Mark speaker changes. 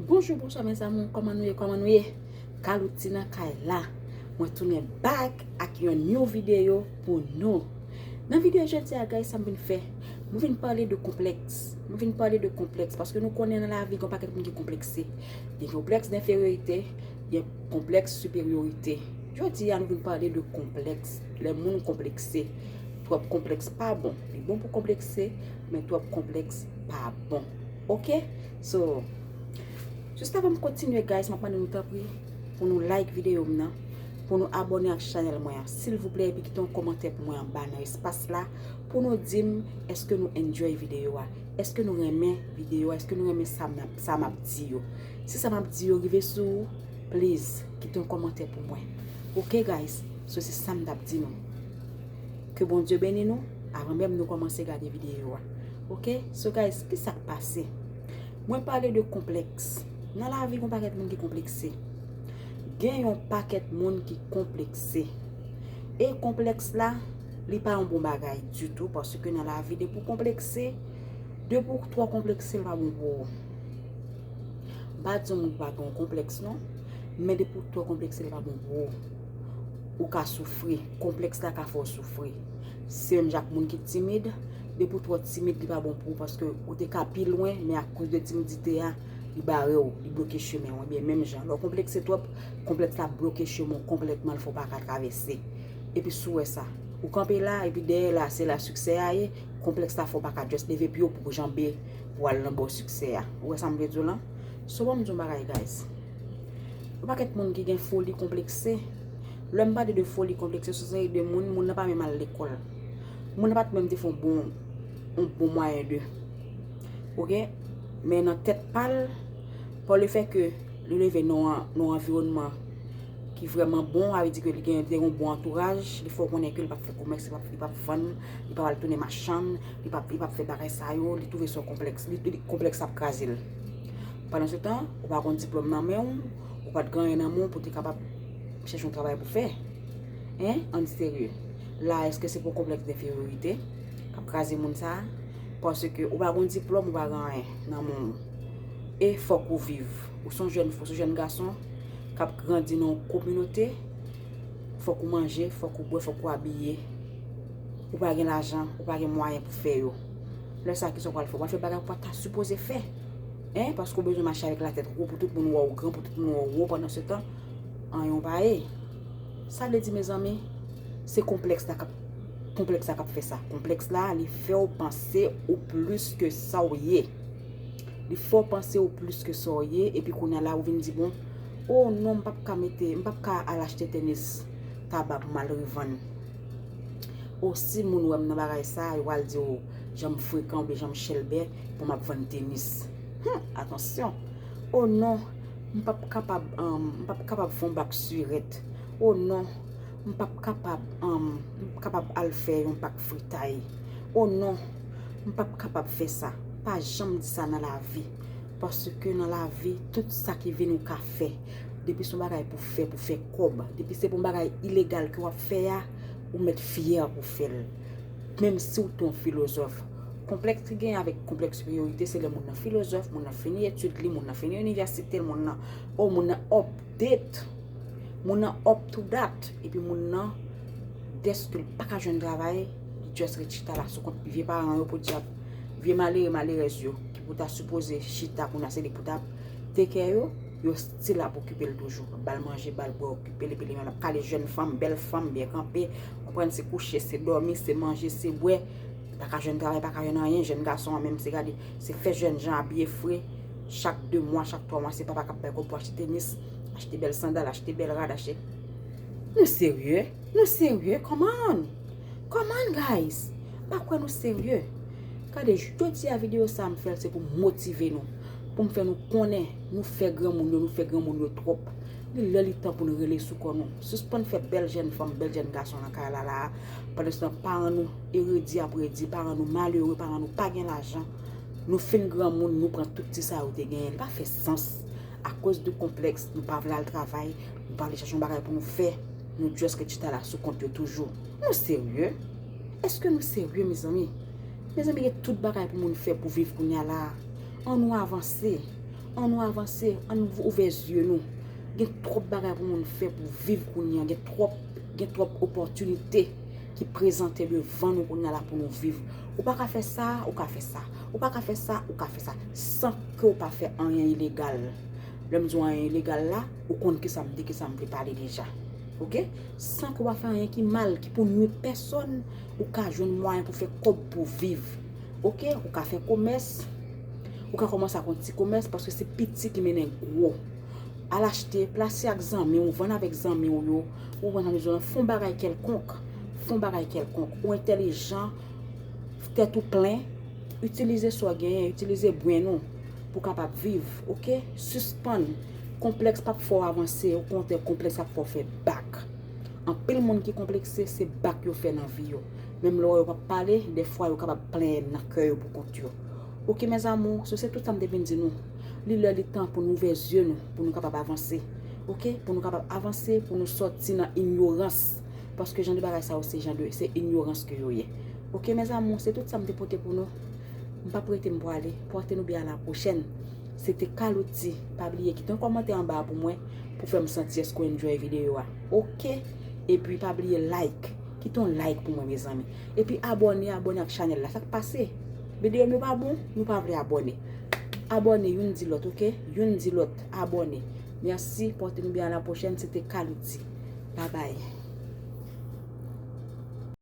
Speaker 1: Bonjou bonswa mes amour kòman nou ye kòman nou ye Calouty nan kay la mwen tounen back ak yon new video pou nou nan video jodia guys sa m vin fè mwen vin pale de konplèks mwen vin pale de konplèks paske nou konnen nan lavi gon pakèt moun ki konplekse gen konplèks denferyorite gen konplèks siperyorite jodia nou vin pale de konplèks lè moun konplekse twòp konplèks pa bon li bon pou konplekse men twòp konplèks pa bon. Ok so Just avan m kontinye guys m ap mande nou tanpri pou nou like videyo m nan pou nou abòne ak chanèl mwen an silvouplè epi kite yon kòmantè pou mwen anba nan espas la pou nou di m èske nou enjoy videyo a èske nou renmen videyo a èske nou renmen sa m ap di yo si sa m ap di yo rive sou ou pliz kite yon kòmantè pou mwen ok guys so se sa m t ap di nou ke bondye beni nou avan menm nou kòmanse gade videyo a. Ok so guys ki sak pase mwen pale de konpleks nan la vi gon paket moun ki konplekse gen yon paket moun ki konplekse e konpleks la li pa yon bon bagay di tou pase ke nan la vi de pou konplekse de pou k tro konplekse li pa bon pou ou bat zon moun pa gen konpleks non men de pou k tro konplekse li pa bon pou ou ou ka soufri konpleks la ka fo soufri se menm jak moun ki timid Depi ou twò timid li pa bon pou ou paske ou te ka pi lwen men akoz de timidite a li bare w, li bloke chemen w ebyen menm jan lè w konplekse twòp konplèks la ap bloke chemen w konplètman l fè w pa ka travèse epi sou wè sa ou kanpe la epi dèyè la se la siksè a ye konplèks la fè w pa ka just leve pye w pou w janbe pou w al nan bò siksè a ou wè sa m vle di w lan so banm di w yon bagay guys yon pakèt moun ki gen foli konplekse lè m pale de foli konplekse se yon seri de moun moun nan pa menm al lekòl. Moun nan pat menm te fon bon yon bon mwayen de. Ok? Men nan tèt pal, pa le fè ke li leve nan yon anviwònman ki vreman bon, a ve di ke li gen yon bon antouraj, li fè w konnen ke li pap fè komès, li pap li pap vann, li pap al tounen machann, li pap li pap fè bagay sa yo, li touve son konplèks, li li konplèks ap kraze l. Pandan se tan, ou pa kon diplòm nan men w, ou pat gen anyen nan men w pou te kapab chèche yon travay pou fè. Hein? An di serye. La eske se pou konplèks denferyorite kap kraze moun sa? Paske ou pa gon diplòm ou pa gen anyen nan men w. E fòk ou viv. Ou son jèn fò, son jèn gason kap grandi nan yon kominote, fòk ou manje, fòk ou bwè, fòk ou abiye. Ou pa gen lajan, ou pa gen mwayen pou fè yo. Lè sa kisa ou pral fè? Wap fè bagay ou pa ta sipoze fè. Hein? Paske ou bezwen mache avèk la tèt wo pou tout moun wè w gran, pou tout moun wè w wo pandan se tan anyen ou pa ye. Sa vle di mezanmi, se konplèks la kap konplèks la kap fè sa. Konplèks la li fè ou panse ou plis ke sa ou ye. Li fè ou panse ou plis ke sa ou ye epi kounya la ou vin di bon, o non m pap ka mete, m pap ka al achte tenis taba pou m al revann. O si moun wè m nan bagay sa, yo pral di ou jan m frekan oubyen jan m chèlbè pou m ap vann tenis. Hum! Atansyon! O non! M pap kapab um m pap kapab fon bak surette oh non m pap kapab um m pap kapab al fè yon pak fritay oh non m pap kapab fè sa pa janm di sa nan lavi paske nan lavi tout sa ki vini ou ka fè depi son bagay pou fè pou fè kob depi se bon bagay ilegal ke wap fè a ou mèt fyè pou fèl. Menm si w te yon filozòf, konplèks ki genyen avèk konplèks siperyorite se lè moun nan filozòf, moun nan fini etid li, moun nan fini inivèsite l, moun nan o moun nan update, moun nan up to dat epi moun nan dèske l pa ka jwenn travay li just ret chita la sou kont vye paran yo podyab vye malere malerèz yo ki pou ta sipoze chita kounye a se li pou ta ap take care yo. Yo still ap okipe l toujou. Ba l manje, ba l bwè, okipe l epi li menm l ap kale jèn fanm, bèl fanm, byen kanpe. Konprann se kouche, se dòmi, se manje, se bwè. Pa ka jwenn travay, pa ka jwenn anyen. Jèn gason an menm se gade, se fè jèn jan abiye fre. Chak 2 mwa, chak 3 mwa se papa k ap bay kòb pou achte tenis, achte bèl sandal, achte bèl rad, achte. Nou serye? Nou serye? Come on! Come on guys! M pa kwè nou serye. Gade, jodi a videyo sa a m fè l se pou m motive nou. Pou m fè nou konnen nou fè granmoun yo, nou fè granmoun yo twòp. Li lè li tan pou n rele sou kò nou. Sispann fè bèl jèn fanm, bèl jèn gason nan kay la la a. Pandanstan paran nou eredi ap redi, paran nou malere, paran nou pa gen lajan. Nou fin granmoun, nou pran tout ti sa yo te genyen. Li pa fè sans. Akoz de konplèks, nou pa vle al travay, nou pa vle chèche yon bagay pou nou fè. Nou just ret chita la sou kont yo toujou. Nou serye? Eske nou serye mezanmi? Mezanmi gen tout bagay pou moun fè pou viv kounya la an nou avanse an nou avanse an nou ouvè zye nou gen twòp bagay pou moun fè pou viv kounya gen twòp gen twòp opòtinite ki prezante devan nou kounya la pou nou viv ou pa ka fè sa ou ka fè sa ou pa ka fè sa ou ka fè sa san ke ou pa fè anyen ilegal lè m di w anyen ilegal la ou konn kisa m di kisa m vle pale deja ok san ke w pa fè anyen ki mal ki pou nwi pèsòn Ou ka jwenn mwayen pou fè kòb pou viv. Ok, ou ka fè komès. Ou ka kòmanse ak yon ti komès paske se piti ki mennen gwo. Al achte, plase ak zanmi ou, vann avèk zanmi ou yo. Ou konprann sa m di w lan? Fè yon bagay kèlkonk. Fè yon bagay kèlkonk. Ou entèlijan. Tèt ou plen. Itilize sa w genyen. Itilize brenn ou pou w kapab viv. Ok? Sispann. Konplèks p ap fè w avanse. Okontrè, konplèks ap fè w fè bak. Anpil moun ki konplekse se bak yo fè nan vi yo. Menm lò yo pap pale, dèfwa yo kapab plenyen nan kè yo poukont yo. Ok mes amours, se tout sa m te vin di nou. Li lè li tan pou n ouvè zye nou, pou nou kapab avanse. Ok, pou nou kapab avanse, pou nou sòti nan inyorans. Paske jan de bagay sa yo se jan de, se inyorans ke yo ye. Ok mes amours, se tout sa m te pote pou nou. M pap rete m pwale. Pòte nou byen a la pwochèn. Se te Carlouty. Pa bliye kite yon kòmantè anba a pou mwen, pou fè m santi èske w enjoy videyo a. Ok epi pa bliye like. Kite yon like pou mwen mezanmi. Epi abone abone ak chanel la. Sak pase? Video m yo pa bon? Nou pa vle abone. Abone youn di lot ok. Youn di lot abone. Merci pote nou byen a la pwochen se te Calouty. Babay.